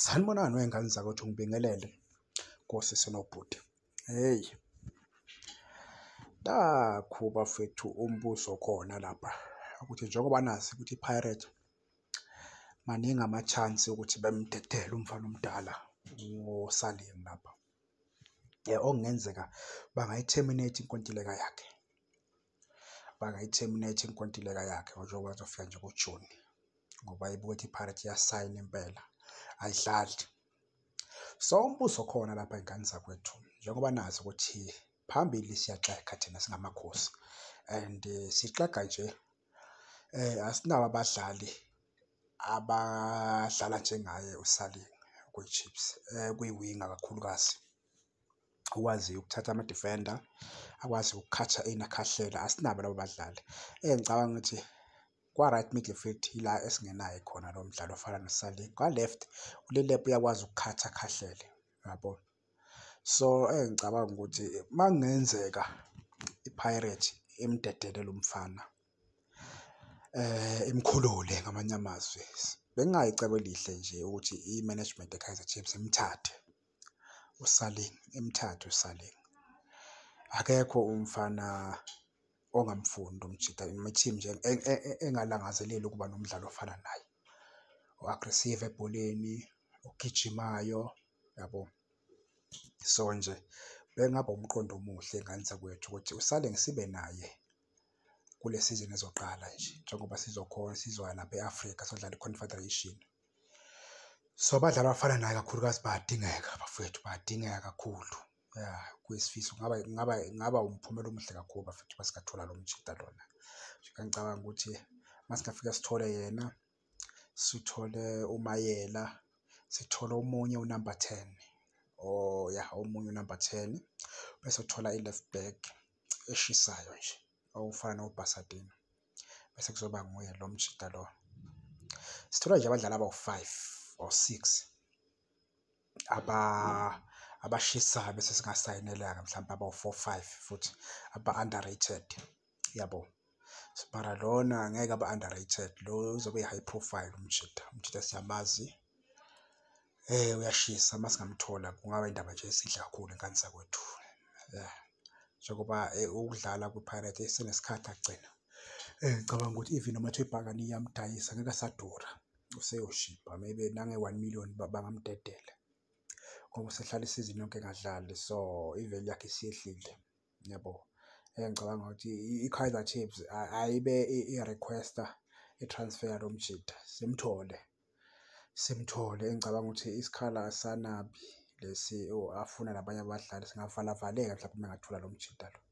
Sanibonani wey'ngane zakwethu ngibingelele kosisi nobhuti. Hheyi, nakhu bafethu umbuzo khona lapha ukuthi njengoba nazi ukuthi iPirates maningi ama-chance ukuthi bemdedele umfana omdala ngoSalim lapha. Okungenzeka bangayi-terminate inkontileka yakhe. bangayi-terminate inkontileka yakhe njengoba azofika nje kujuni ngoba ibuthi ipirates iyasayina impela ayidlali so umbuzo khona lapha ingane zakwethu njengoba nazi ukuthi phambili siyaxega thina singamakhosi and eh, sixega nje eh asinabo abadlali abadlala njengaye uSalin kwiChiefs eh kwiwinga kakhulukazi okwaziyo ukuthatha ama-defender akwazi ukukhatha enakhahlela asinabo labo badlali eh ngicabanga ukuthi kwa-right midfield yila esingenayo khona lo mdlalo ofana nosali kwa-left ulilep uyakwazi ukukhatha akhahlele yabo so eh ngicabanga ukuthi uma kungenzeka ipirate imdedele lo mfana eh imkhulule ngamanye amazwi bengingayicebo elihle nje ukuthi i-management ye-kaizer chiefs imthathe usaling emthatha usaling akekho umfana ongamfuni lo mjita team nje e- e- e- engalangazeleli ukuba nomdlalo ofana naye o-aggressive ebholeni ogijimayo yabo so nje bengaba umqondo omuhle ngane zakwethu ukuthi usale ngisibe naye kule sizini ezoqala nje njengoba sizokhona sizoya lapha e-Afrika sodlala i-Confederation. So abadlali abafana naye kakhulukazi bayadingeka bafowethu bayadingeka kakhulu. Ya kuyisifiso kungaba kungaba kungaba umphumela omuhle kakhulu bafethu uma singathola lo mjita lona. Ngicabanga ukuthi uma singafika sithole yena. sithole uMayela, sithole omunye unamba ten or yah omunye unamba ten, bese uthola i-left back eshisayo nje okufana noBhasadini bese kuzoba nguye lo mjita lo. Sithola nje abadlali abawu-five or six. aba abashisayo bese singasayinelanga mhlawumbe abawu-four five futhi aba-underrated yabo mara lona ngeke aba-underrated lo uzobe yi-high profile umjita umjita siyamazi eh uyashisa uma singamthola kungaba indaba nje esidla kakhulu enkani sakwethu yeah njengoba eh, ukudlala kwi-pirate senesikhathi agcina um ngicabanga ukuthi even noma kuthiwa ibhakani iyamdayisa ngeke asadura useyoshibha maybe nange-one million bangamdedela ngoba usehlala isizini yonke engadlali so iveli yakhe isiyehlile yabo engicabanga ukuthi i-kaizer chiefs ayibe i-requesta i-transfer yalo mjida simthole simthole engicabanga ukuthi isikhala asanabi lesi afuna nabanye abadlali singavalavaleka mhlawumbe uma engathula lo mjida lo